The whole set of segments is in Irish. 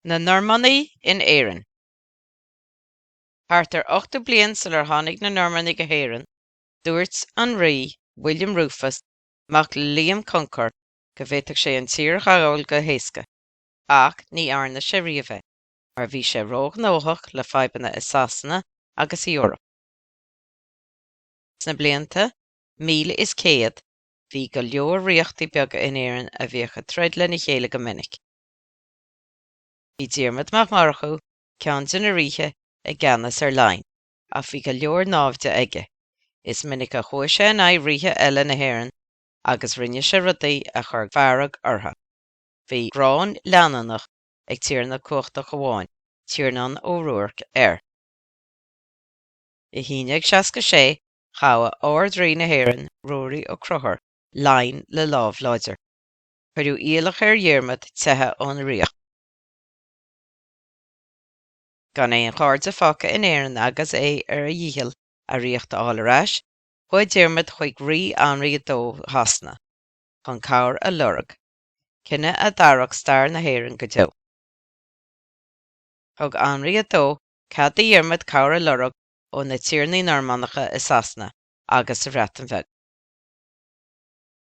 Na Normannaigh in Éirinn. Thart ar ochtó bliain sular tháinig na Normannaigh go hÉirinn, dúirt an Rí William Rufus, mac le Liam Concar, go bhféadfadh sé an tír a ghabháil go héasca, ach ní dhearna sé riamh é, mar bhí sé róghnóthach le fadhbanna i Sasana agus san Eoraip. Sna blianta 1100. Bhí go leor ríochtaí beaga in Éirinn a bhíodh ag troid lena chéile go minic. Bhí Diarmaid Mac Murchú, ceann de na ríthe, i gceannas ar Laighin, ach bhí go leor náimhde aige. Is minic a chuaigh sé in aghaidh ríthe eile na hÉireann agus rinne sé rudaí a chuir fearg orthu. Bhí gráin leanúnach ag tiarna cumhachtach amháin, Tiarnán Ó Ruairc, air. In aon aon seasca sé Ghabh Ard-Rí na hÉireann, Ruairí Ó Conchúir, Laighin le lámh láidir. Cuireadh iallach ar Dhiarmaid teitheadh ón ríocht. Gan aon chairde fágtha in Éirinn agus é ar a dhícheall a ríocht a fháil ar ais, chuaigh Diarmaid chuig Rí Anraí a Dó Shasana chun cabhair a lorg, cinneadh a d'athrach stair na hÉireann go deo. Thug Anraí a Dó cead do Dhiarmaid cabhair a lorg ó na tiarnaí Normannacha i Sasana agus sa Bhreatain Bheag.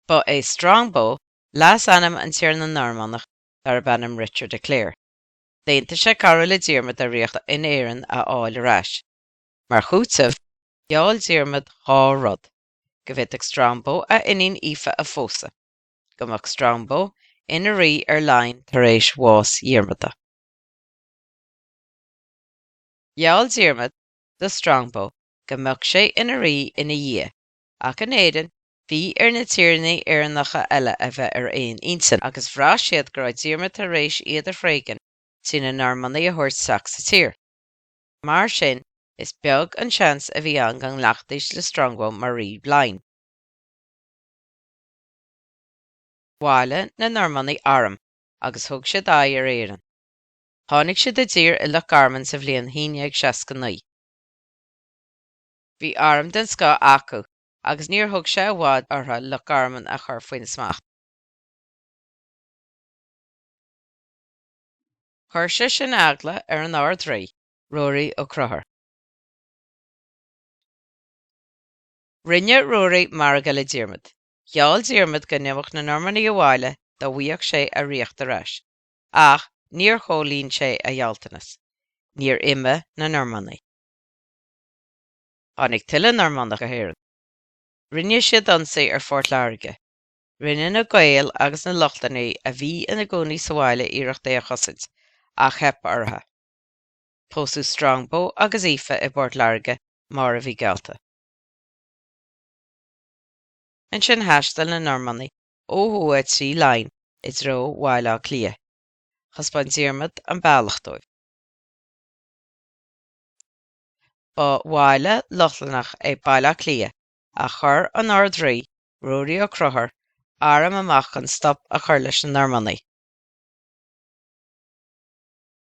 Ba é Strongbow leasainm an tiarna Normannach darb ainm Richard de Clare. D'aontaigh sé cabhrú le Diarmaid a ríocht in Éirinn a fháil ar ais. Mar chúiteamh, gheall Diarmaid dhá rud, go bhféadfadh Strongbow a iníon Aoife a phósadh, go mbeadh Strongbow ina rí ar Laighin tar éis bhás Dhiarmada. Gheall Diarmaid do Strongbow go mbeadh sé ina rí ina dhiaidh, ach in Éirinn, bhí ar na tiarnaí Éireannacha eile a bheith ar aon intinn, agus bhraith siad go raibh Diarmaid tar éis iad a thréigean trí na Normannaigh a thabhairt isteach sa tír. Mar sin, is beag an seans a bhí ann go nglacfaidís le Strongbow mar rí Laighin. Bhailigh na Normannaigh arm agus thug siad aghaidh ar Éirinn. Tháinig siad i dtír i Loch Garman sa bhliain 1169. Bhí arm den scoth acu agus níor thóg sé i bhfad orthu Loch Garman a chur faoina smacht. Chuir sé sin eagla ar an Ard-Rí, Ruairí Ó Conchúir. Rinne Ruairí margadh le Diarmaid. Gheall Diarmaid go n-imeodh na Normannaigh abhaile dá bhfuigheadh sé a ríocht ar ais. ach níor chomhlíon sé a ghealltanas, níor imigh na Normannaigh. Tháinig tuilleadh Normannach go hÉirinn. Rinne siad ionsaí ar Phort Láirge. Rinne na Gaeil agus na Lochlannaigh a bhí ina gcónaí sa bhaile iarracht é a chosaint, ach theip orthu. Pósadh Strongbow agus Aoife i bPort Láirge mar a bhí geallta. Ansin thaistil na Normannaigh ó thuaidh trí Laighin i dtreo Bhaile Átha Cliath. Thaispeáin Diarmaid an bealach dóibh. Ba bhaile Lochlannach é Baile Átha Cliath ach chuir an Ard-Rí, Ruairí Ó Conchúir, arm amach chun stop a chur leis na Normannaigh.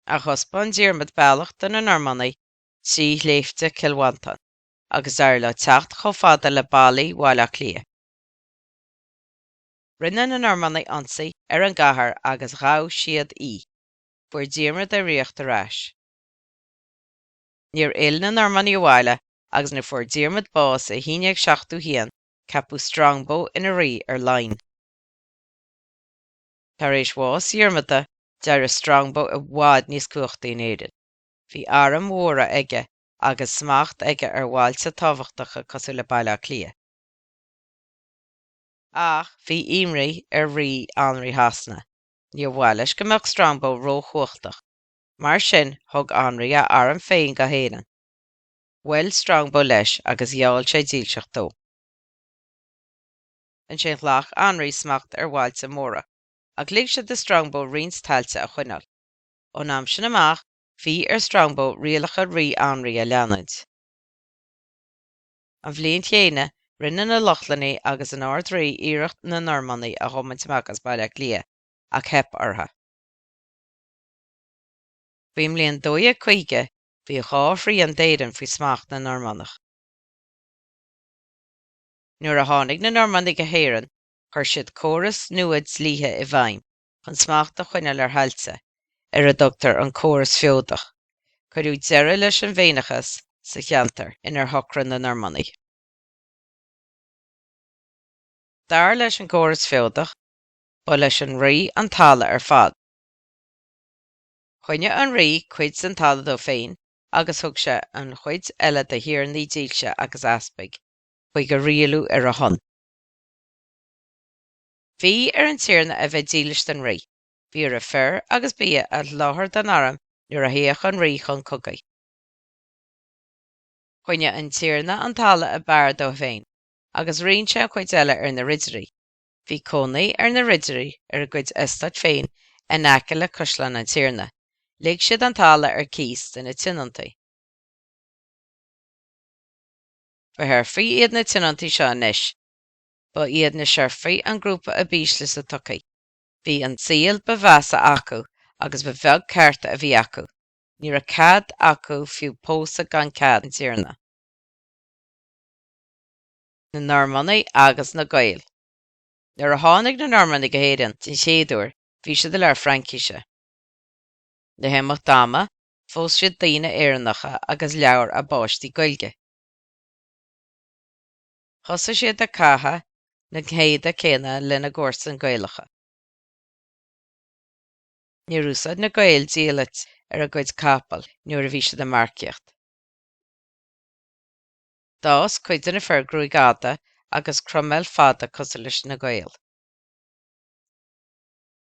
Ach thaispeáin Diarmaid bealach do na Normannaigh trí Shléibhte Chill Mhantáin agus d'éirigh leo teacht chomh fada le ballaí Bhaile Átha Cliath. Rinne na Normannaigh ionsaí ar an gcathair agus ghabh siad í. Fuair Diarmaid a ríocht ar ais. Níor fhill na Normannaigh abhaile agus nuair a fuair Diarmaid bás i 1171 ceapadh Strongbow ina rí ar Laighin. Tar éis bhás Dhiarmada d'éirigh Strongbow i bhfad níos cumhachtaí in Éirinn. Bhí airm mhóra aige agus smacht aige ar bhailte tábhachtacha cosúil le Baile Átha Cliath. Ach bhí imní ar Rí Anraí Shasana. Níor mhaith leis go mbeadh Strongbow róchumhachtach, mar sin thug Anraí a arm féin go hÉirinn. Bhuail Strongbow leis agus gheall sé dílseacht dó. Ansin ghlac Anraí smacht ar bhailte móra, ach lig sé do Strongbow roinnt tailte a choinneáil. Ón am sin amach, bhí ar Strongbow rialacha Rí Anraí a leanúint. An bhliain chéanna, rinne na Lochlannaigh agus an Ard-Rí iarracht na Normannaigh a thiomaint amach as Baile Átha Cliath, ach theip orthu. Faoin mbliain 1250, bhí dhá thrian d'Éirinn faoi smacht na Normannach. Nuair a tháinig na Normannaigh go hÉirinn, chuir siad córas nua dlíthe i bhfeidhm, Chun smacht a choinneáil ar thailte ar a dtugtar an córas feodach, cuireadh deireadh leis an bhFéineachas sa cheantar inar chónaigh na Normannaigh. Dar leis an gcóras feodach, ba leis an rí an talamh ar fad. Choinnigh an rí cuid den talamh dó féin agus thug sé an chuid eile do thiarnaí dílse agus d'easpaig chun é a rialú ar a shon. Bhí ar an Tiarna a bheith dílis don rí. Bhí air fir agus bia a sholáthar don arm nuair a théadh an rí chun cogaidh. Choinnigh an Tiarna an talamh ab fhearr dó féin agus roinn sé an chuid eile ar na ridirí. Bhí cónaí ar na ridirí ar a gcuid eastáit féin in aice le Caisleán an Tiarna. Lig siad an talamh ar cíos de na tionóntaí. Ba sheirfigh iad na tionóntaí seo anois. Ba iad na Seirfigh an grúpa ab ísle sa tsochaí. Bhí an saol ba mheasa acu agus ba bheag cearta a bhí acu, ní raibh cead acu fiú pósadh gan cead an tiarna. Na Normannaigh agus na Gaeil. Nuair a tháinig na Normannaigh go hÉirinn den chéad uair, bhí siad ag labhairt Fraincise. Le himeacht ama, phós siad daoine Éireannacha agus labhair a bpáistí Gaeilge. Thosaigh siad ag caitheamh na n-éadaí céanna lena gcomharsain Gaelacha. Níor úsáid na Gaeil diallait ar a gcuid capall nuair a bhí siad ag marcaíocht. D'fhás cuid de na fir gruaig fhada agus croiméal fada cosúil leis na Gaeil.